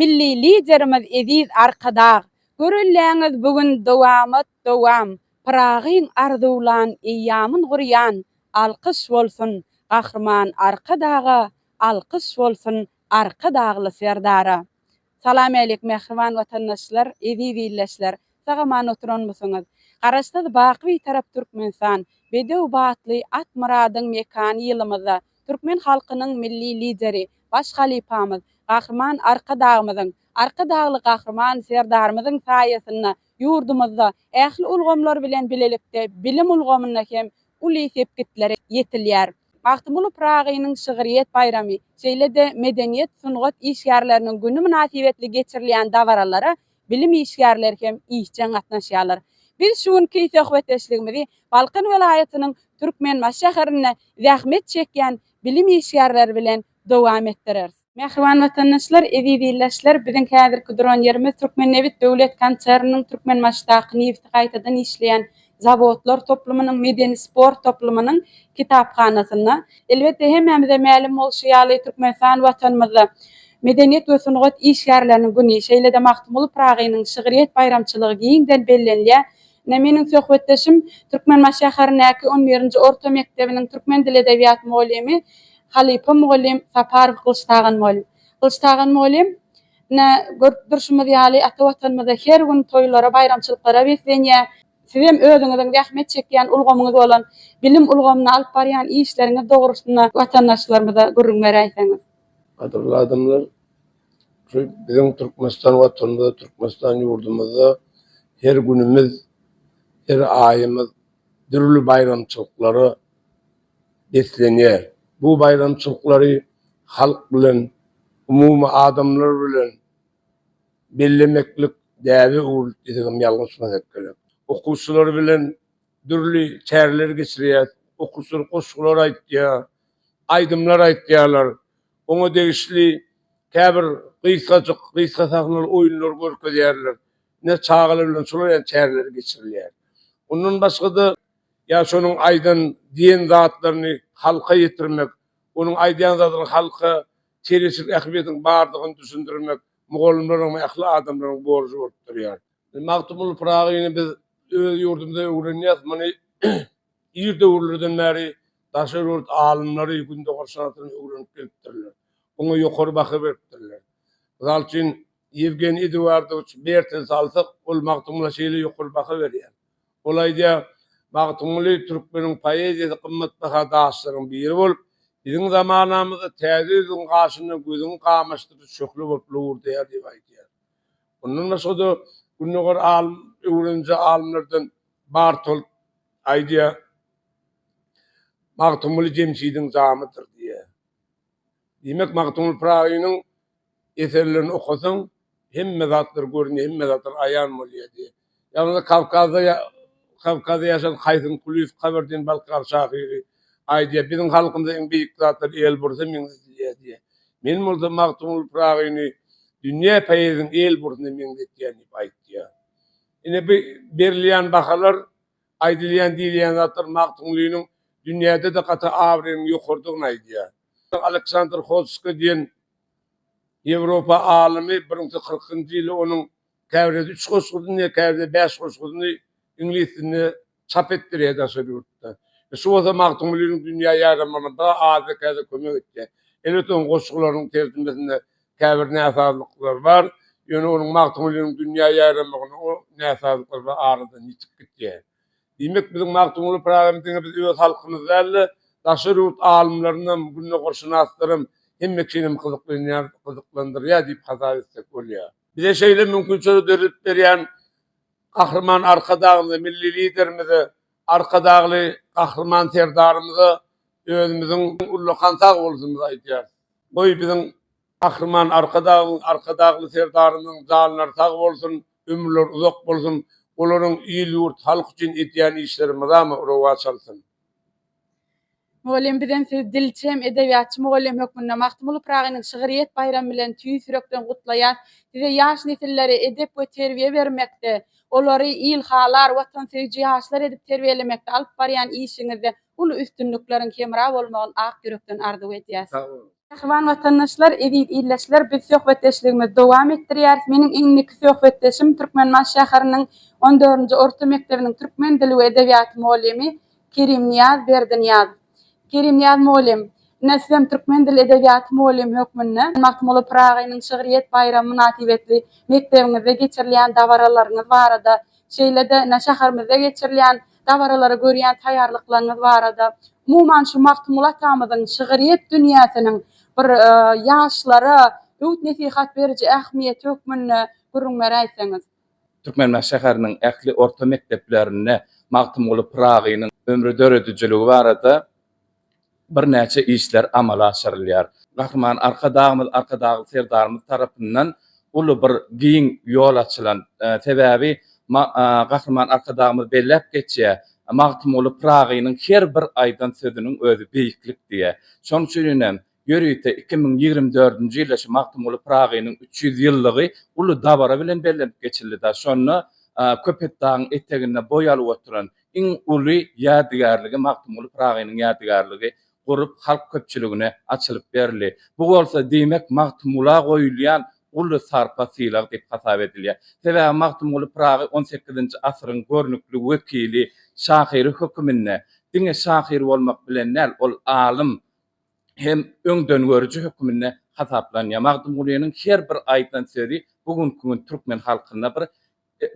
Milli Liderimiz Eziz Arkadag Görelläňiz bu gün dowamat dowam Pyragyň arzuwlan eýýamyn gurýan Alkyş bolsun Gahryman Arkadaga Alkyş bolsun Arkadagly Serdara Salam älik mähriban watandaşlar, eziz ildeşler! Sag-aman oturanmysyňyz? Garaşsyz baky Bitarap Türkmenistan, bedew batly Atmyradyň mekany ýylymyzda türkmen halkynyň Milli Lideri, Baş halypamyz, Gahryman Arkadagymyzyň, Arkadagly Gahryman Serdarymyzyň saýasynda ýurdumyzda ähli ulgamlar bilen bilelikde bilim ulgamynda hem uly sepgitlere ýetilýär. Magtymguly Pyragynyň şygryýet baýramy, şeýle-de Medeniýet-sungat işgärleriniň güni mynasybetli geçirilýän dabaralara bilim işgärleri hem işjeň gatnaşýarlar. Biz şu günki söhbetdeşligimizi Balkan welaýatynyň Türkmenbaşy şäherinde zähmet çekýän bilim işgärleri bilen dowam etdireris. Mähriban watandaşlar, eziz ildeşler, biziň häzirki duran ýerimiz Türkmennebit döwlet konserniniň Türkmenbaşdaky nebiti gaýtadan işleýän zawodlar toplumynyň medeni-sport toplumynyň kitaphanasynda. Elbetde, hemmämize mälim bolşy ýaly, Türkmenistan Watanymyzda Medeniýet we sungat işgärleriniň güni, şeýle-de Magtymguly Pyragynyň şygryýet baýramçylygy giňden bellenilýär. Ine, meniň söhbetdeşim, Türkmenbaş şäherindäki on birinji orta mekdebiniň türkmen dili-edebiýat mugallymy Halypa mugallym Saparow Gylyçtagan mugallym. Gylyçtagan mugallym, ine, görüp durşumyz ýaly, ata Watanymyzda her gün toýlara, baýramçylyklara beslenýär. Sizem özüňiziň zähmet çekýän ulgamyňyz bolan bilim ulgamynda alyp barýan işleriňiz dogrusynda watandaşlarymyza gürrüň beräýseňiz. Gadyrly adamlar, şu biziň Türkmenistan Watanymyzda, Türkmenistan ýurdumyzda her günümiz, her aýymyz dürli baýramçylyklara beslenýär. Bu baýramçylyklary halk bilen, umumy adamlar bilen bellemeklik däbe öwrülip desegem ýalňyşmasak gerek. Okuwçylar bilen dürli çäreler geçirýäs. Okuwçylar goşgular aýtýar, aýdymlar aýtýarlar. Oňa degişli käbir gysgajyk, gysga sahnaly oýunlar görkezýärler. Ine, çagalar bilen şolaryň çäreleri geçirilýär. Ondan başga-da, ýa şonuň aýdan, diýen zatlaryny halka ýetirmek, onuň aýdýan zadynyň halka çereçilik ähmiýetiniň bardygyny düşündirmek mugallymlaryň we ähli adamlaryň borjy bolup durýar. Magtymguly Pyragyny biz öz ýurdumyzda öwrenýäs, muny ir döwürlerden bäri daşary ýurt alymlary gündogar sanatyny öwrenip gelipdirler, oňa ýokary baha beripdirler. Mysal üçin, Ýewgeniý Eduardowiç Bertin salsak, ol Magtymgula şeýle ýokary baha berýär. Ol aýdýar, Magtymguly türkmeniň poeziýasy gymmatbaha daşlaryň biri bolup, biziň zamanamyzda täze ýüzüň gaşynda gözüňi gamaşdyryjy şöhle bolup lowurdaýar diýip aýdýar. Mundan başga-da, gündogar alym öwreniji alymlardan Bartolt aýdýar, Magtymguly jemşidiň jamydyr diýýär. Diýmek, Magtymguly Pyragynyň eserlerini okasaň, hemme zatlar görünýär, hemme zatlar aýan bolýar diýýär. Ýalňyz Kawkazda ýa Kawkazda ýaşan Haýsyn Kulyýew, Kabardin-Balkar şahyry aýdýar, Biziň halkymyza iň beýik zatlar el bursa meňzetilýär diýýär. Men bolsa Magtymguly Pyragyny dünýä poeziýasynyň el bursyna meňzetýän diýip aýtýar. Ine, bu berilýän bahalar Aýdylýan, diýilýän zatlar Magtymgulynyň dünýäde-de gaty abraýynyň ýokarydygyny aýdýar. Aleksandr Hodsko diýen Ýewropa alymy bir müň kyrkynjy ýyly onuň käbirede üç goşgusyny, käbirede bäş goşgusyny iňlis dilinde çap etdirýär daşary ýurtda. Şu bolsa Magtymgulynyň dünýä ýaýramagyna bir-a az-da-kände kömek etýär. Elbetde, onuň goşgularynyň terjimesinde Käbir näsazlyklar bar, ýöne onuň Magtymgulynyň dünýä ýaýramagynda o näsazlyklar bir aradan ýitip gidýär. Diýmek, biziň Magtymguly Pyragyny diňe biz öz halkymyz däl-de, daşary ýurt alymlarynam, gündogarşynaslaram, hemme kinem gyzyklanýar, gyzyklandyrýar diýip hasap etsek bolýar. Bize şeýle mümkinçiligi döredip berýän Gahryman Arkadagymyza, Milli Liderimize, Arkadagly Gahryman Serdarymyza özümiziň ullakan sagbolşumyzy aýdýarys. Goý biziň Gahryman Arkadagymyzyň Arkadagly Serdarymyzyň janlary sag bolsun, ömürleri uzak bolsun, olaryň il-ýurt, halk üçin edýän işleri mydama rowaç alsyn! Mugallym bizem sizi dilçem, edebiýatçy mugallym hökmünde Magtymguly Pyragynyň şygryýet baýramy bilen tüýs ýürekden gutlaýas. Size ýaş nesillere edep we terbiýe bermekde, olary ilhalar, watansöýüji ýaşlar edip terbiýelemekde alyp barýan işiňizde uly üstünlikleriň hemra bolmagyny ak ýürekden arzuw edýäs. Sag boluň. Mähriban watandaşlar, eziz ildeşler, biz söhbetdeşligimizi dowam etdirýäris. Meniň indiki söhbetdeşim Türkmenbaş şäheriniň on dördünji orta mekdebiniň türkmen dili we edebiýaty mugallymy Kerimnyýaz Berdinyýazow. Kerimnyýaz mugallym, ine sizem türkmen dili edebiýaty mugallymy hökmünde Magtymguly Pyragynyň şygryýet baýramy mynasybetli mekdebimizde geçirilýän dabaralaryňyz barada Şeýle-de ine şäherimizde geçirilýän dabaralara görýän taýýarlyklaryňyz barada, umuman şu Magtymguly atamyzyň şygryýet dünýäsiniň bir ýaşlara öwüt-nesihat beriji ähmiýeti hökmünde gürrüň beräýseňiz. Türkmenbaşy şäheriniň ähli orta mekdeplerinde Magtymguly Pyragynyň ömri-döredijiligi barada birnäçe işler amala aşyrylýar. Gahryman Arkadagymyz, Arkadagly Serdarymyz tarapyndan uly bir giň ýol açylan. Sebäbi Gahryman Arkadagymyz belläp geçýär, Magtymguly Pyragynyň her bir aýdan sözüniň özi beýiklik diýýär. Şonuň üçin hem Ýörite iki müň ýigrimi dördünji ýylda şu Magtymguly Pyragynyň üç ýüz ýyllygy uly dabara bilen bellenip geçildi-de, şonda Köpetdagyň eteginde boý alyp oturan iň uly ýadygärligi, Magtymguly Pyragynyň ýadygärligi gurup, halk köpçüligine açylyp berildi. Bu bolsa, diýmek, Magtymgula goýulýan uly sarpa-sylag diýip hasap edilýär. Sebäbi Magtymguly Pyragy on sekizinji asyryň görnükli wekili, şahyry höküminde diňe şahyr bolmak bilen däl, ol alym, hem öňdengörüji höküminde hasaplanýar. Magtymgulynyň her bir aýdan sözi bu günki gün türkmen halkynda bir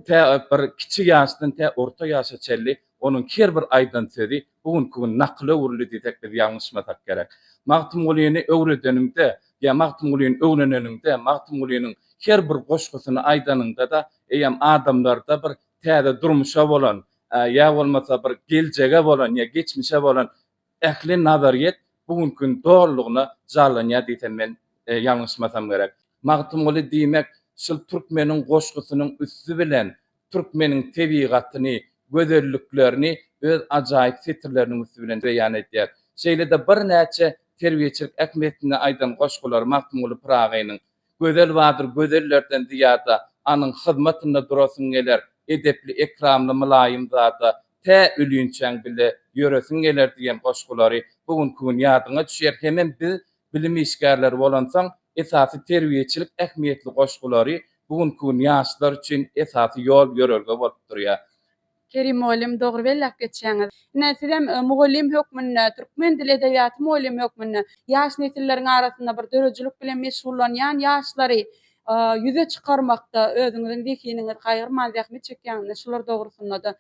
tä bir kiçi ýaşdan tä orta ýaşa çenli onuň her bir aýdan sözi bu günki gün nakyla öwrüldi diýsek biz ýalňyşmasak gerek. Magtymgulyny öwredeniňde ýa Magtymgulyny öwreneniňde, Magtymgulynyň her bir goşgusyny aýdanyňda-da eýýäm adamlarda bir täze durmuşa bolan ýa bolmasa bir geljege bolan ýa geçmişe bolan Ähli nazaryýet bu günki gün dolulygyna jarlanýar diýsem men ýalňyşmasam gerek. Magtymguly diýmek şul türkmeniň goşgusynyň üsti bilen türkmeniň tebigatyny, gözelliklerini öz ajaýyp setirleriniň üsti bilen beýan edýär. Şeýle-de birnäçe terbiýeçilik ähmiýetini aýdan goşgulary Magtymguly Pyragynyň Gözel bardyr gözellerden zyýada, Anyň hyzmatynda durasyň geler, Edepli, ekramly, mylaýym zada, Tä ölýünçäň bile ýöresiň geler diýen goşgulary bu günki gün ýadyňa düşýär. Hemem biz bilim işgärleri bolansoň, esasy terbiýeçilik ähmiýetli goşgulary bu günki gün ýaşlar üçin esasy ýol-ýörelge bolup durýar. Kerim mugallym dogry belläp geçýäňiz. Ine sizem mugallym hökmünde, türkmen dili edebiýaty mugallymy hökmünde ýaş nesilleriň arasynda bir döredijilik bilen meşgullanýan ýaşlary ýüze çykarmakda özüňiziň zehiniňiz gaýgyrman zähmet çekýäňizmi şular dogrusynda-da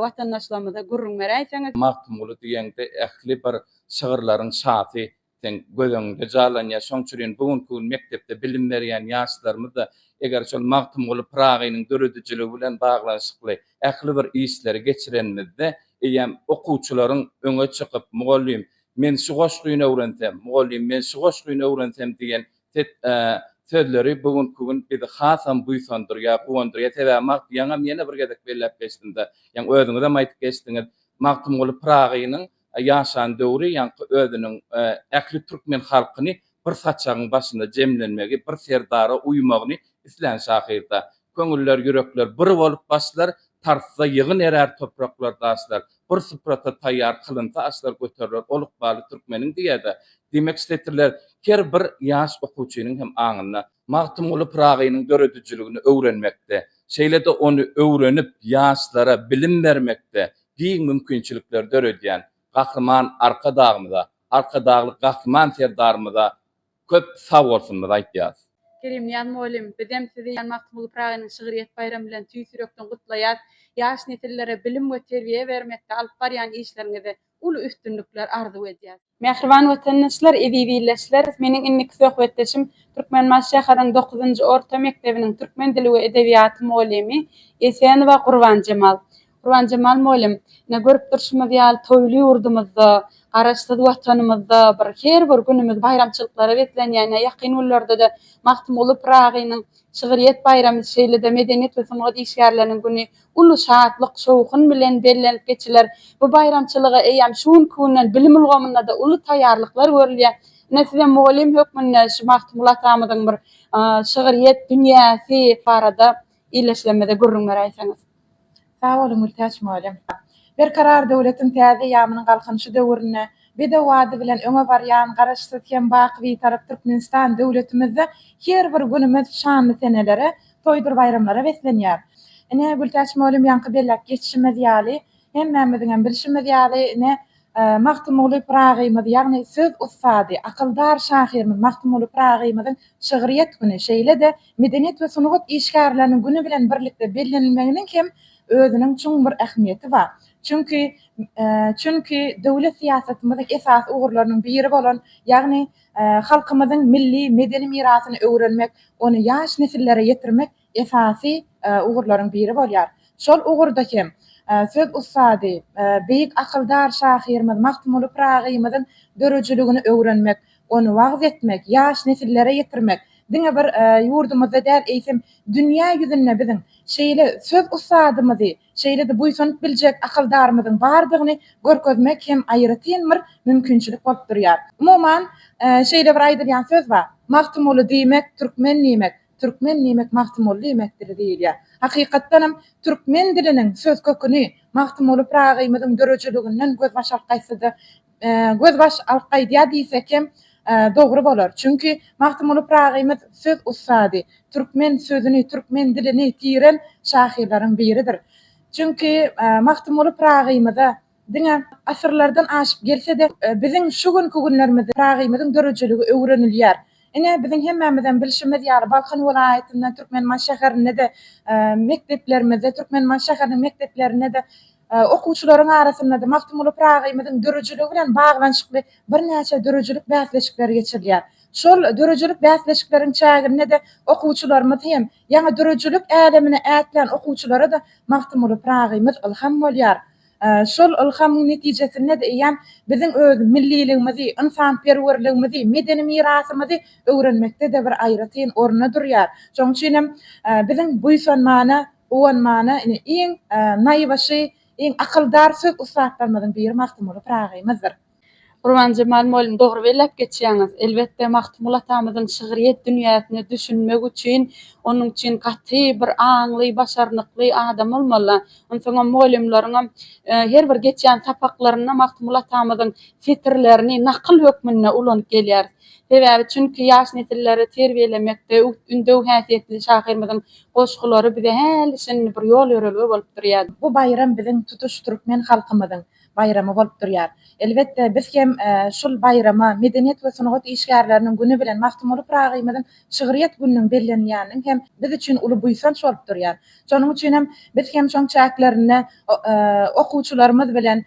watandaşlarymyza gürrüň beräýseňiz. Magtymguly diýeňde ähli bir şygyrlaryň şasy Seň göz öňüňde jarlanýar. Şoň üçin bu günki gün mekdepde bilim berýän ýaşlarymyz-da eger şol Magtymguly Pyragynyň döredijiligi bilen baglanyşykly ähli bir işleri geçirenimizde eýýäm okuwçylaryň öňe çykyp, Mugallym, men şu goşgyny öwrensem, Mugallym, men şu goşgyny öwrensem diýen set sözleri bu günki gün bizi hasam buýsandyrýar, guwandyrýar. Sebäbi Magt ýaňam ýene bir gezek belläp geçdim-de, ýaňy özüňizem aýdyp geçdiňiz, Magtymguly Pyragynyň ýaşan döwri ýaňky özüniň ähli türkmen halkyny bir saçagyň başynda jemlenmegi, bir serdara uýmagyny islän şahyrda. Köňüller, ýürekler bir bolup başlar, Tarsda ýygyn erär topraklar, daşlar. Bir suprata taýýar kylynsa aşlar, Göteriler ol ykbaly türkmeniň diýer-de. Diýmek, şu setirler her bir ýaş okuwçynyň hem aňynda. Magtymguly Pyragynyň döredijiligini öwrenmekde, şeýle-de ony öwrenip, ýaşlara bilim bermekde, giň mümkinçilikleri döredýän Gahryman Arkadagymyza, Arkadagly Gahryman Serdarymyza köp sagbolsunymyzy aýtýarys. Kerimjan mugallym, bizem sizi Jan Magtymguly Pyragynyň şygryýet baýramy bilen tüýs ýürekden gutlaýas. Ýaş nesillere bilim we terbiýe bermekde alyp barýan işleriňizde uly üstünlikler arzuw edýäs. Mähriban watandaşlar, eziz ildeşler! Meniň indiki söhbetdeşim Türkmenbaşy şäheriniň dokuzynjy orta mekdebiniň türkmen dili we edebiýaty mugallymy Esenowa Gurbanjemal. Gurbanjemal mugallym, ine, görüp durşumyz ýaly, toýly ýurdumyzda, Garaşsyz Watanymyzda bir her bir günümiz baýramçylyklara beslenýär. Ine, ýakyn günlerde-de Magtymguly Pyragynyň şygryýet baýramy, şeýle-de Medeniýet we sungat işgärleriniň güni uly şatlyk, şowhun bilen bellenip geçiler. Bu baýramçylyga eýýäm şu günki günden bilim ulgamynda-da uly taýýarlyklar görülýär. Ine, sizem mugallym hökmünde şu Magtymguly atamyzyň bir şygryýet dünýäsi barada ildeşlerimize gürrüň beräýseňiz. Sag boluň, Gültäç mugallym! Berkarar döwletiň täze eýýamynyň Galkynyşy döwründe bedew ady bilen öňe barýan Garaşsyz hem baky Bitarap Türkmenistan döwletimizde her bir günümiz şanly senelere, Toýdur-baýramlara beslenýär. Ine, Gültäç mugallym ýaňky belläp geçişimiz ýaly, hemmämiziňem bilşimiz ýaly, ine, Magtymguly Pyragymyz, ýagny söz ussady, akyldar şahyrymyz Magtymguly Pyragymyzyň şygryýet güni, şeýle-de medeniýet we sungat işgärleriniň güni bilen birlikde bellenilmeginiň hem özüniň çuň bir ähmiýeti bar. Çünki, çünki döwlet syýasatymyzyň esasy ugurlarynyň biri bolan, ýagny, Halkymyzyň milli medeni mirasyny öwrenmek, ony ýaş nesillere ýetirmek esasy ugurlaryň biri bolýar. Şol ugurda hem söz ussady, beýik akyldar şahyrymyz Magtymguly Pyragymyzyň döredijiligini öwrenmek, ony wagyz etmek, ýaş nesillere ýetirmek diňe bir ýurdumyzda däl, eýsem, dünýä ýüzünde biziň şeýle söz ussadymyzy şeýle-de buýsanyp biljek akyldarymyzyň bardygyny görkezmek hem aýratyn bir mümkinçilik bolup durýar. Umuman, şeýle bir aýdylýan söz bar, Magtymguly diýmek, türkmen diýmek, türkmen diýmek, Magtymguly diýmekdir diýilýär. Hakykatdanam, türkmen diliniň söz köküni Magtymguly Pyragy-ymyzyň döredijiliginden gözbaş alkaýsa-da, Gözbaş alp gaýdýar diýsek hem dogry bolar. Çünki Magtymguly Pragymyz söz ussady, türkmen sözüni, türkmen dilini tiren şahyrlaryň biridir. Çünki Magtymguly Pragymyza diňe asyrlardan aşyp gelse-de, biziň şu günki günlerimizde Pragymyzyň döredijiligi öwrenilýär. Ine, biziň hemmämizem bilşimiz ýaly, Balkan welaýatynda, Türkmenbaşy şäherinde-de mekdeplerimizde, Türkmenbaşy şäheriniň mekdeplerinde-de okuwçylaryň arasynda-da Magtymguly Pyragymyzyň döredijiligi bilen baglanyşykly birnäçe döredijilik bäsleşikleri geçirilýär. Şol döredijilik bäsleşikleriň çäginde-de okuwçylarymyz hem, ýaňy döredijilik älemine ätlän okuwçylara-da Magtymguly Pyragymyz ylham bolýar. Şol ylhamyň netijesinde-de eýýäm biziň öz milliligimizi, ynsanperwerligimizi, medeni mirasymyzy öwrenmekde-de bir aýratyn orunda durýar. Şonuň üçin hem biziň buýsanmana, guwanmana ine iň naýbaşy, iň akyldar söz ussatlarymyzyň biri Magtymguly Pyragy-mizdir. Gurbanjemal mugallym dogry belläp geçýäňiz. Elbetde Magtymguly atamyzyň şygryýet dünýäsine düşünmek üçin onuň üçin gaty bir aňly, başarnykly adam bolmaly. Onsoňam mugallymlaryňam her bir geçýän sapaklarynda Magtymguly atamyzyň setirlerini nakyl hökmünde ulanyp gelýäris. Sebäbi çünki ýaş nesilleri terbiýelemekde ündew häsiýetli şahyrymyzyň goşgulary bize häli şindi bir ýol-ýörelge bolup durýar. Bu baýram biziň tutuş türkmen halkymyzyň baýramy bolup durýar. Elbetde, biz hem şul baýrama Medeniýet we sungat işgärleriniň güni bilen Magtymguly Pyragymyzyň şygryýet gününiň bellenilýäniniň hem biz üçin uly buýsanç bolup durýar. Şonuň üçin hem biz hem şoň çäklerinde okuwçylarymyz bilen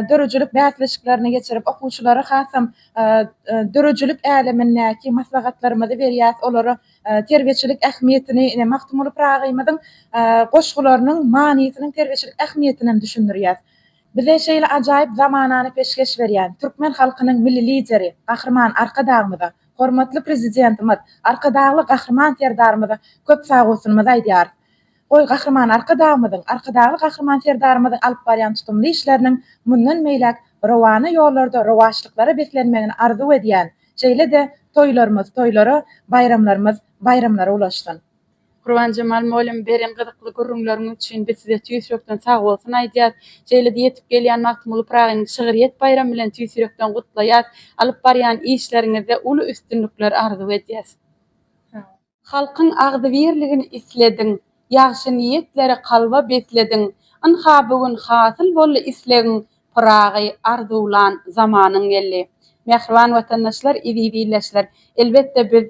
döredijilik bäsleşiklerini geçirip, okuwçylara hasam döredijilik älemindäki maslahatlarymyzy berýäs, olary terbiýeçilik ähmiýetini, ine, Magtymguly Pragymyzyň goşgularynyň manysynyň terbiýeçilik ähmiýetini hem düşündirýär. Bize şeýle ajaýyp zamanany peşgeş berýän türkmen halkynyň Milli Lideri Gahryman Arkadagymyza, hormatly Prezidentimiz Arkadagly Gahryman Serdarymyza köp sagbolsunymyzy aýdýarys. Goý, Gahryman Arkadagymyzyň, Arkadagly Gahryman Serdarymyzyň alyp barýan tutumly işleriniň mundan beýläk rowana ýollarda rowaçlyklara beslenmegini arzuw edýän, şeýle-de toýlarymyz toýlara, baýramlarymyz baýramlara ulaşsyn! Gurbanjemal mugallym beren gyzykly gürrüňleriňiz üçin biz size tüýs ýürekden sagbolsun aýdýas. Şeýle-de ýetip gelýän Magtymguly Pyragyny şygryýet baýramy bilen tüýs ýürekden gutlaýas. Alyp barýan işleriňizde uly üstünlikler arzuw edýäs. Halkyň agzybirligini islediň, Ýagşy niýetleri kalba beslediň. Ynha bu gün hasyl boldy islegiň, Pyragy arzuwlan zamanyň geldi. Mähriban watandaşlar, eziz ildeşler! Elbetde biz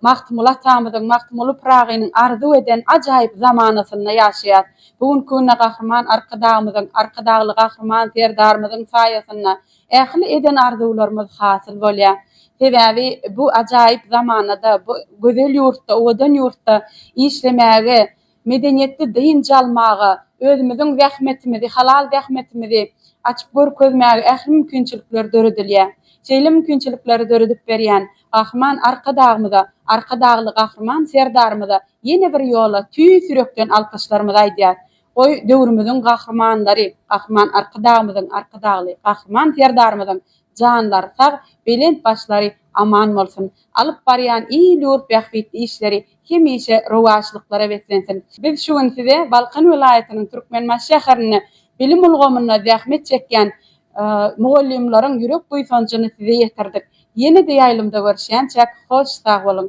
Magtymguly atamyzyň, Magtymguly Pyragynyň arzuw eden ajaýyp zamanasynda ýaşaýas. Bu günki günde Gahryman Arkadagymyzyň, Arkadagly Gahryman Serdarymyzyň saýasynda Ähli eden arzuwlarymyz hasyl bolýar. Sebäbi bu ajaýyp zamanada, bu gözel ýurtda, owadan ýurtda işlemäge, medeniýetli dynç almaga, özümiziň zähmetimizi, halal zähmetimizi açyp görkezmäge ähli mümkinçilikler döredilýär. Şeýle mümkinçilikleri döredip berýän Gahryman Arkadagymyza, Arkadagly Gahryman Serdarymyza ýene bir ýola tüýs ýürekden alkyşlarymyzy aýdýarys. Goý, döwrümiziň gahrymanlary, Gahryman Arkadagymyzyň, Arkadagly Gahryman Serdarymyzyň janlary sag, belent başlary aman bolsun! Alyp barýan il-ýurt bähbitli işleri hemişe rowaçlyklara beslensin! Biz şu gün size Balkan welaýatynyň Türkmenbaşy şäherinde bilim ulgamynda zähmet çekýän mugallymlaryň ýürek buýsanjyny size ýetirdik. Ýene-de ýaýlymda görüşýänçäk, hoş sag boluň!